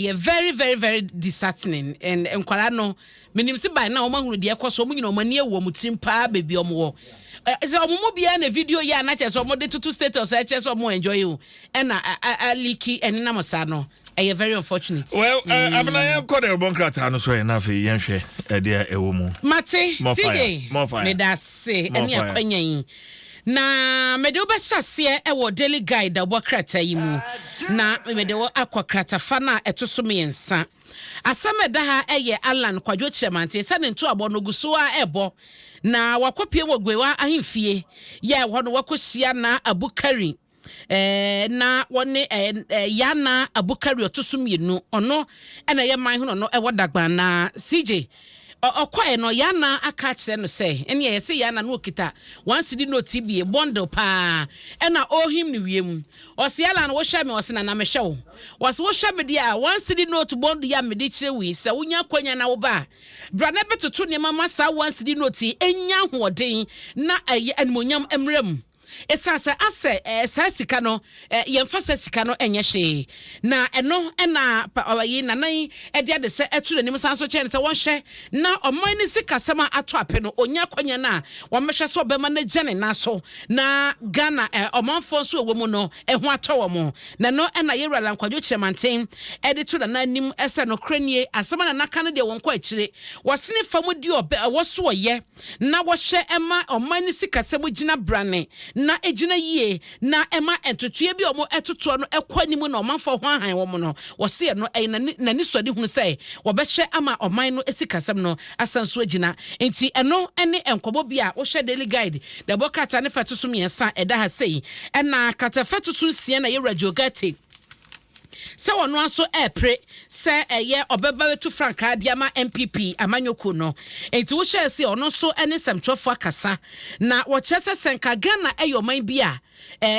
Yɛ very very very disheartening and nkwadaa no menim se by now wɔn ahunu deɛ ɛkɔ so wɔn nyina wɔn ani awu wɔn tirim paa baby wɔn wɔ sɛ wɔn mu biara na video yɛ ana kyerɛ sɛ wɔn de toto status ɛkyerɛ sɛ wɔn enjoy o ɛna aliki ɛnenam saa no ɛyɛ very unfortunate. well eh, abena yɛn kɔ dɛ ɔbɔ nkrataa no so yɛn afei yɛn hwɛ ɛdeɛ ɛwɔ mu. mate side meda ase ɛne akwanya yi. Na mede wo bɛhyɛ aseɛ wɔ Daily Guide a wobɔ krataa yi mu, na mede wo akɔ kratafa no a ɛto so mmiɛnsa. Asɛm a ɛda ha yɛ Allan Kwadwo Kyerɛmanten sɛ ne ntoabɔ no gu so ara rebɔ, na wakɔpue wɔ Gwewa ahemfie, yɛ ɛhɔ no wakɔhyia Naa Abu Karin. eh, na wɔne eh, eh, Yana Abukari ɔto so mmienu ɔno ɛna ɛyɛ man ho na ɔno ɛwɔ Dagban na CJ ɔkɔɛ no Yana aka akyerɛ no sɛ ɛne ɛyɛ sɛ Yana no ɔkita wɔn si di noti bie bɔndel paa ɛna ɔhim no wiem ɔsi ala no wohyɛ me ɔsi na na mehyɛ wo wɔsi wohyɛ me deɛ a wɔn si di noti bɔndel yɛ a mede kyerɛ wei sɛ wonya akwanya na woba a bra na ɛbɛtoto nneɛma ma saa wɔn si di noti ɛnya ahoɔden na ɛyɛ animonyam mmerɛ mu Ɛsiane sɛ asɛ eh, saa sika no eh, yɛmfa sɛ sika no ɛnyɛ hyee na ɛno ɛna ɔyi nanan ɛde ade sɛ ɛto n'anim san so kyɛn sɛ wɔnhyɛ na ɔman ne sikasɛm a ato apɛ no ɔnya akwanya no a wɔmmɛhwɛ sɛ ɔbɛma no agya ne nan so na Ghana eh, ɔmanfoɔ nso ɛwɔ mu no ɛho atɔ wɔ mo na ɛno ɛna yɛwura lankwadwo kyerɛmanten ɛde to nana anim ɛsɛ nokorɛ nie asɛm a nana ka no deɛ wɔnkɔ akyire wɔsene fa mu di ɔbɛ ɛwɔ so ɔyɛ na wɔhyɛ ma ɔman no sikasɛm gyinabrane na egyina yie na ɛma ntotoeɛ bi a wɔtotoɔ no kɔ anim na ɔmanfoɔ ho ahan wɔn no, wɔse ɛno ɛyɛ n'anisoadehunu sɛ wɔbɛhyɛ ama ɔman no sikasɛm no asan so agyina. Enti ɛno ne nkɔmmɔ bi a wohwɛ Daily Guide na ɛbɔ krataa no fɛtoso mmiɛnsa a ɛda ha sei. Ɛna krataafɛtoso nsia na Yawura Joe Ghartey, sɛ ɔno ara nso repere sɛ ɛyɛ ɔbɛba bɛtu frankaa de ama npp amanyɔkuo no. Enti wohyɛɛ se ɔno nso ne nsɛmtwerɛfoɔ akasa na wɔkyerɛ sɛ sɛ nka Ghana yɛ ɔman bi a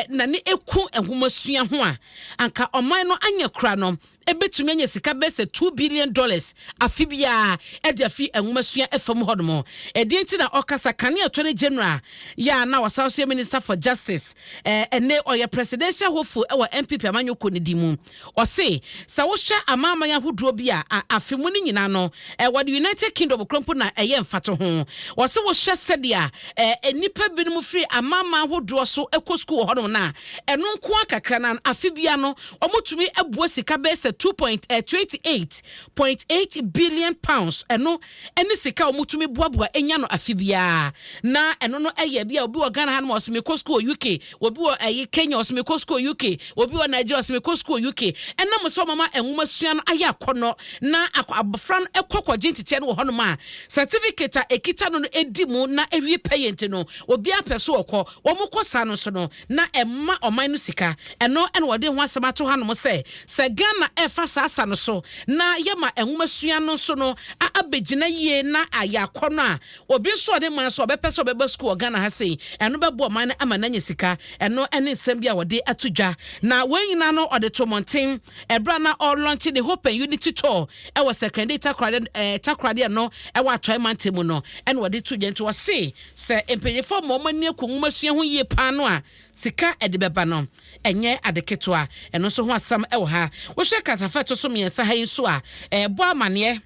n'ani ku nhomasua ho a, anka ɔman no anyɛ kora no ɛbɛtumi anya sika bɛyɛ sɛ two billion dollars afe biara de afi nhomasua fam hɔnom. Ɛdeɛ nti na ɔkasa kane attorney general yɛ a na ɔsan nso yɛ Minister for Justice, ɛnne ɔyɛ Presidential Hopeful wɔ NPP Amanyɔ Kuo no din mu. Ɔse sɛ wohwɛ amanaman ahodoɔ bi a, a afe mu no nyinaa no wɔde United Kingdom kora mpo na ɛyɛ mfatoho. Ɔse wohwɛ sɛdeɛ a nnipa binom firi amanaman ahodoɔ so kɔ sukuu wɔ hɔnom no a, ɛno nko ara kakra no ara no afe biara no wɔtumi bua sika bɛyɛ sɛ two point twenty eight point eight billion pounds, ɛno ne sika a wɔtumi boaboa nya no afe biara. Na ɛno no yɛ bi a obi wɔ Ghana hanom a ɔse mekɔ sukuu wɔ UK, obi wɔ ɛyi Kenya ɔse mekɔ sukuu wɔ UK, obi wɔ Nigeria ɔse mekɔ sukuu wɔ UK. Ɛnam sɛ wɔma nwoma sua no ayɛ akɔnnɔ na akɔ abɔfra no kɔ kɔgye nteteɛ no wɔ hɔnom a, certificate a ɛkita no no di mu na ɛwie pɛyɛ nti no, obiara pɛ so ɔkɔ. Wɔkɔ saa no nso no, na ɛmma ɔman no sika. Ɛno na wɔde ho asɛm ato hanom sɛ, sɛ Ghana refa saa asa no so na yɛma nwomasua no nso no abɛgyina yie na ayɛ akɔnnɔ a, obi nso a ɔne man so a ɔbɛpɛ sɛ ɔbɛba sukuu wɔ Ghana ha sei, ɛno bɛboa ɔman no ama no anya sika. Ɛno ne nsɛm bi a wɔde ato dwa, na wei nyinaa no ɔde too mmɔnten berɛ a na ɔrelɔnkye ne Hope and Unity Tour wɔ Sekondi Takoradi, Takoradi no wɔ Atɔe Mantam mu no na wɔde too dwa. Nti wɔse Sɛ mpanyimfo ama wɔn ani aku nwomasua ho yiye paa no a, sika a ɛde bɛba no, ɛnyɛ ade ketewa. Ɛno nso ho asɛm wɔ ha. Wohwɛ kratafa a ɛto so mmiɛnsa ha yi nso a, ɛrebɔ amanneɛ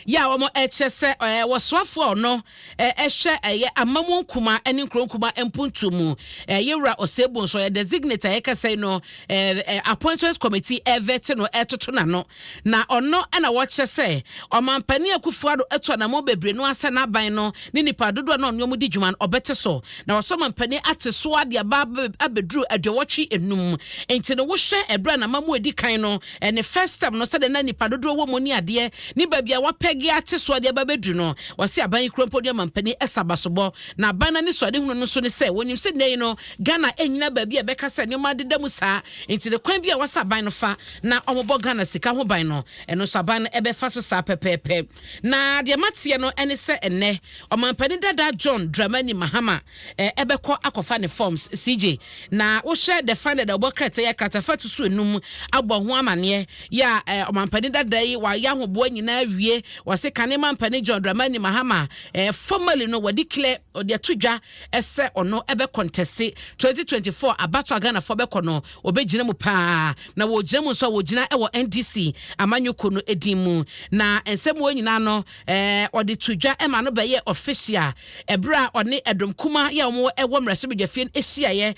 yɛ a wɔkyerɛ sɛ ɛwɔ soafo a ɔno ɛhwɛ ɛyɛ amamuo nkumaa ne nkuro nkumaa mpuntuo mu. Ɛyɛ Wura Osei Bonsu, ɔyɛ designate a yɛkasa yi no ɛɛ appointments committee ɛvɛte no ɛtoto n'ano na ɔno ɛna wɔkyerɛ sɛ ɔmampanin Akufo-Addo atu anamɔ bebree no asɛ n'aban no ne nipa dodoɔ na ɔne wɔn di dwuma no ɔbɛte so na wɔsɔ mampanin ate so ade aba abɛduru aduɔwɔtwe enum nti no wohyɛ ɛberɛ na ama mu edi kan no ɛne first term no sɛdeɛ na nipa dodoɔ wɔ mu ne adeɛ ne baabi a wɔapɛge ate so ade aba abɛduru no wɔsi aban yi kura mpo ne ɔmampanin ɛsa abasobɔ na aban no anisoadehunu no nso ne sɛ wɔnim sɛ nnɛ yi no Ghana nnyina baabi a ɛbɛka sɛ nneɛma adeda mu saa, enti no kwan bi a ɛwɔ sɛ aban no fa na wɔbɔ Ghana sika ho ban no, ɛno nso aban no bɛfa so saa pɛpɛɛpɛ. Na deɛ mateɛ no ne sɛ ɛnnɛ Ɔmanpanin dada John Dramani Mahama bɛkɔ akɔfa ne forms. CJ, na wohwɛ the fine dada ɔbɔ krataa yi a, krataa fatoso nnum abɔ ho amaneɛ yɛ a Ɔmanpanin dada yi wayɛ ahoboa nyinaa awie, wɔse kane Mampanin John Dramani Mahama formally no wɔdeclare, wɔde ato dwa, sɛ ɔno bɛ kɔntɛste twenty twenty four abatoɔ a Ghanafoɔ bɛkɔ no ɔbɛgyina mu paa na wɔgyina mu nso a wɔgyina wɔ NDC amanyɔkuo no din mu na nsɛm wɔ nyinaa no ɔde to dwa ma no bɛyɛ ɔfehyia ɛberɛ a ɔne ɛdom kuma yɛ wɔn wɔ mmarahyɛbadwafie no hyiaeɛ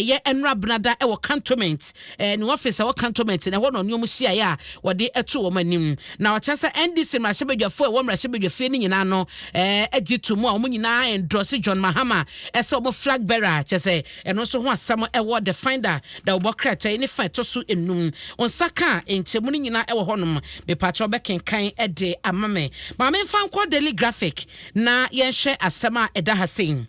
yɛ ɛnora benada wɔ cantonment eh, ne ɔfis a ɛwɔ cantonment na ɛhɔ na ɔne wɔn hyiaeɛ a wɔde to wɔn anim. Na ɔkyerɛ sɛ NDC mmarahyɛbadwafoɔ a ɛwɔ mmarahyɛbadwafie no nyinaa no eh, agye to mu a wɔn nyinaa endorse John Mahama eh, sɛ wɔn flag bearer a kyerɛ sɛ ɛno nso ho asɛm ɛwɔ the finder da wɔbɔ krataa ne fa ɛtɔ so enum. Nsa ka a nkyɛmu no nyinaa ɛwɔ hɔnom. Mepakyɛ ɔbɛkenkan ɛde ama me. Maame mfa nkɔ Daily Graphic na yɛnhwɛ asɛm a ɛda ha sei.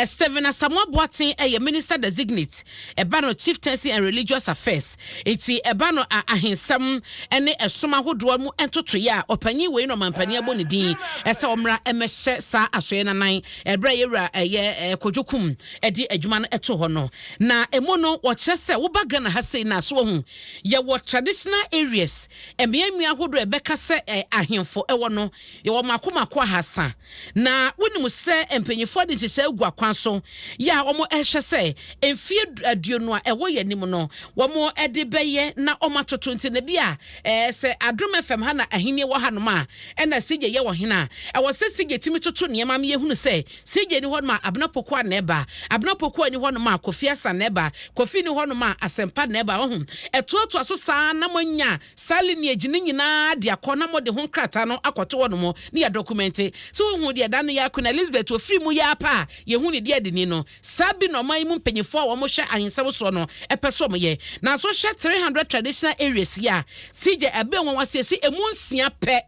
Stephen Asamoah Boateng yɛ Minister Designate, ɛba no Chieftaincy and Religious Affairs, nti ɛba no a ahensɛm ne ɛsom ahodoɔ mu ntotoeɛ a ɔpanyin wei na ɔmanpanin abɔ ne din sɛ ɔmmra mmɛhyɛ saa asoɛeɛ no anan ɛberɛ a Yɛwura ɛyɛ Kojo Kum de adwuma no to hɔ no. Na ɛmu no wɔkyerɛ sɛ woba Ghana ha sei no a so wahu yɛwɔ traditional areas mmeammea ahodoɔ a ɛbɛka sɛ ahemfo wɔ no yɛwɔ mako mako ahasa Na wonim sɛ mpanyinfoɔ de nhyehyɛe agu akwan so yɛ a wɔhwɛ sɛ mfeɛ aduonu a ɛwɔ yɛn anim no wɔde bɛyɛ na wɔatoto nti na bi a ɛɛ sɛ Adom FM ha na ahennie wɔ hanom a ɛna CJ yɛ ɔhene a ɛwɔ sɛ CJ tumi toto nneɛma ma yɛhunu sɛ CJ ni hɔnom a Abena Pokuah na ɛba Abena Pokuah ni hɔnom a Kofi Asan na ɛba Kofi ni hɔnom a Asɛmpa na ɛba ho ɛtoatoa so saa na moanya Saa lineage no nyinaa de akɔ na mode ho nkrataa no akɔto hɔnom ne yɛadɔkumɛnte. So wohuu deɛ da no yɛa Queen Elizabeth ɔfiri mu yi ara pɛ a yɛhu ne deɛ de ni no? Saa bi na ɔman yi mu mpanimfoɔ a wɔhwɛ ahensɛm soɔ no pɛ sɛ wɔyɛ. Nanso hwɛ 300 traditional areas yi a CJ Abenwa wɔasiesie ɛmu nsia pɛ.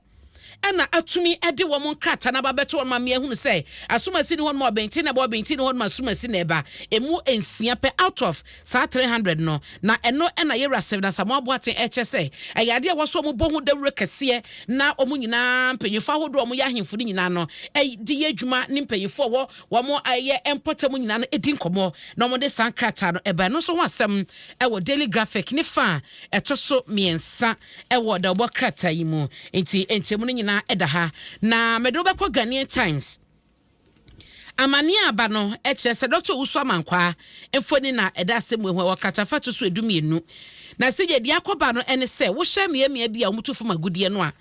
na atumi de wɔn nkrataa no aba bɛto wɔn ma meahunu sɛ asomasi ne hɔnom a ɔbɛnti na ɛba ɔbɛnti ne hɔnom asomasi na ɛba emu nsia pɛ out of saa 300 no na ɛno na yɛwura sɛ na Samoa Boaten ɛkyɛ sɛ ɛyɛ adeɛ a wɔsɔ wɔn bɔ ho dawuro kɛseɛ na wɔn nyinaa mpanyinfoɔ ahodoɔ wɔn yɛ ahemfo no nyinaa no de yɛ adwuma ne mpanyinfoɔ wɔ wɔn ayɛ mpɔtam nyinaa no di nkɔmɔ na wɔn de saa nkrataa no ɛba ɛno nso ho asɛm ɛwɔ Daily Graphic ne fa a ɛto so mmiɛnsa wɔ dawubɔ krataa yi mu, enti nkyɛmu no nyinaa da ha, na mede wo bɛkɔ Ghanaian Times. Amanneɛ a aba no kyerɛ sɛ Dɔkta Owusu Amankwaa mfoni na ɛda asɛmmuo ho, ɛwɔ kratafa a ɛto so edu mmienu. Na sɛdeɛ ɛdi akɔba no ne sɛ, wohyɛ mmeammea bi a wɔtu fam agudeɛ no a,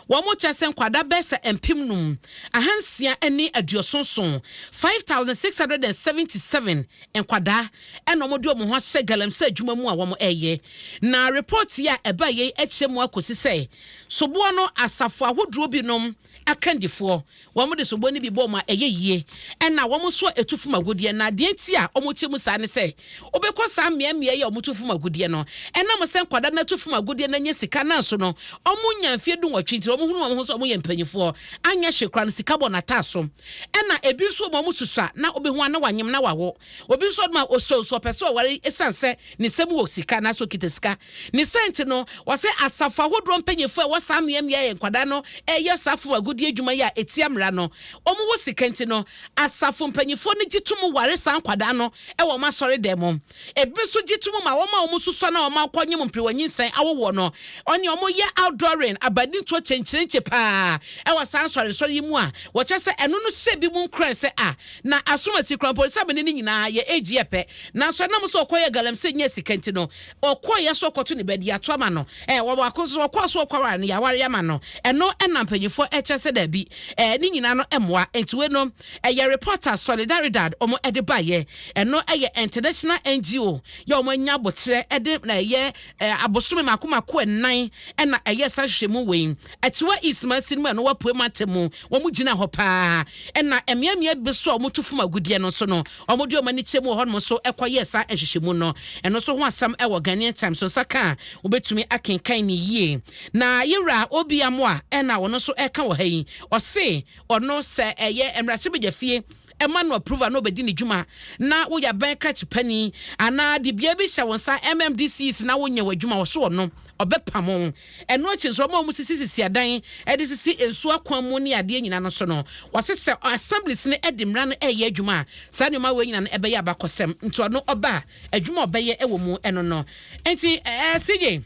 wɔkyerɛ sɛ nkwadaa bɛyɛ sɛ mpem nnum, ahansia ne aduoson nson, 5677, nkwadaa na wɔde wɔn ho ahyɛ galamsey adwuma mu a wɔyɛ. Na report yi a ɛbaeɛ yi akyerɛ mu akɔsi sɛ soboɔ no asafo ahodoɔ binom akandifoɔ wɔde soboɔ no bi bɔ wɔn a ɛyɛ yie ɛna wɔn nso a ɛtu fam agudeɛ na deɛ nti a wɔkyɛ mu saa ne sɛ wobɛkɔ saa mmeammea yi a wɔtu fam agudeɛ no ɛnam sɛ nkwadaa no atu fam agudeɛ no anya sika nanso no wɔnya mfeɛ du nwɔtwe nti wɔhunu wɔn ho sɛ wɔyɛ mpanimfoɔ anyɛ hye koraa no sika bɔ no ataaso Ɛna ebi nso wɔ mu a wɔn susua na obehu a na wanyem na wawo. Obi nso wɔ mu a osuro nso ɔpɛ sɛ ɔware esiane sɛ ne nsam wɔ sika anaasɛ okita sika. Ne saa nti no, wɔse asafo ahodoɔ mpanyimfoɔ a ɛwɔ saa mmeammea a nkwadaa no reyɛ saa fam agudeɛ adwuma yi a etia mmara no, wɔwɔ sika nti no, asafo mpanyimfoɔ no gye tom ware saa nkwadaa no wɔ wɔn asɔredan mu. Ebinom nso gye tom ma wɔn a wɔsusua na wɔakɔnyem mperew a nyinsɛn awo wɔ no. Wɔne wɔn yɛ outdooring, abadintoɔ kyenkyerenkye pa ara wɔ saa nsɔrensɔre yi mu a wɔkyerɛ sɛ ɛno no hyɛ ebinom nkuran sɛ a na asomasi kura mpo sɛ amane no nyinaa yɛ age yɛ pɛ. Nanso ɛnam sɛ ɔkɔyɛɛ galamsey nyaa sika nti no, ɔkɔeɛ so rekɔto ne ba di ato ama no. Ɛɛ, wɔ baako nso so, ɔkɔɔ so rekɔware no, yɛawareɛ ama no. Ɛno na mpanimfoɔ kyerɛ sɛ daabi, ɛɛ, ne nyinaa no mmoa. Enti wei no. Ɛyɛ report a Solidaridad wɔn de baeɛ. Ɛno yɛ international NGO yɛ wɔn anya aboterɛ de na ɛyɛ eh, abosome mako mako ɛnan ɛna ɛyɛ saa hwehwɛ mu wei. Akyiwa East Mansin mu ɛno wapue mate mu. Wɔn gyina hɔ paa. Ɛna mmeammea bi so a wɔn tu fam agudeɛ no nso no, wɔn de wɔn ani kyɛ mu wɔ hɔnom nso ɛkɔ yɛ saa nhwehwɛ mu no. Ɛno nso ho asɛm ɛwɔ Ghanaian Times so nsa ka a wobɛtumi akenkan ne yie. Na yɛwura Obi Amoa ɛna wɔn nso ɛka wɔ ha yi. Ɔse ɔno sɛ ɛyɛ mmarahyɛbadwafie ɛma no approval na ɔbɛdi ne dwuma na woyɛ abɛn krakyepani anaa de bea bi hyɛ wo nsa MMDCs na wonyɛ w'adwuma wɔ so ɔno ɔbɛpamo ɛno akyi nso ɔma ɔmo sisi sisi adan ɛde sisi nsuo akwan mu ne adeɛ nyina no so no wɔse sɛ assemblies no ɛde mmara no ɛyɛ adwuma a saa nneɛma wei nyina no ɛbɛyɛ abakɔsɛm nti ɔno ɔba adwuma ɔbɛyɛ ɛwɔ mu ɛno no nti ɛɛ sigye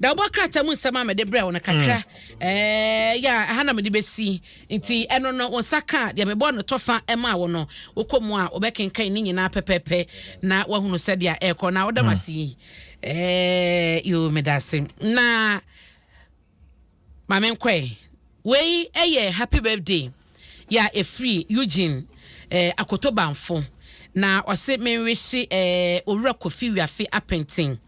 da wobɔ krataa mu nsɛm a mede brɛ wo no kakra mm. eh, yɛ ɛha na mede bɛsi nti ɛno no wo nsa ka deɛ mebɔ no tɔfa ɛma wo no wokɔ mu a wobɛkenkan ne nyinaa pɛpɛpɛ na woahunu sɛdeɛ ɛrekɔ na woda mm. mase yi eh, yo meda ase na Ma me nkɔ ɛ. Wei yɛ happy birthday yɛ a ɛfiri Eugene eh, Akoto Bamfo. Na ɔse me nwihye eh, Owura Kofi Wiafe Apenten,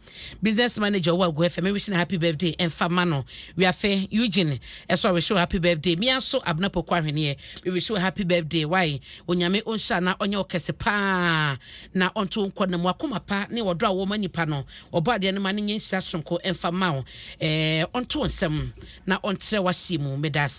Business Manager wɔ Agu FM, me nwihye no happy birthday mfa ma no. Wiafe, Eugene ɛso ɔwihye wo happy birthday. Me ara nso Abena Poku Ahweneɛ, me wihye wo happy birthday. Wai, Onyame ɔnhyira na ɔnyɛ wo kɛse paa na ɔnto wo nkɔ na mu. Akoma pa ne ɔdɔ a wowɔ ma nnipa no, Ɔbɔadeɛ no mma no nyɛ nhyira soronko mfa mma wo. Ɛɛ, ɔnto wo nsam na ɔntrɛ w'ahyeɛ mu. Meda ase.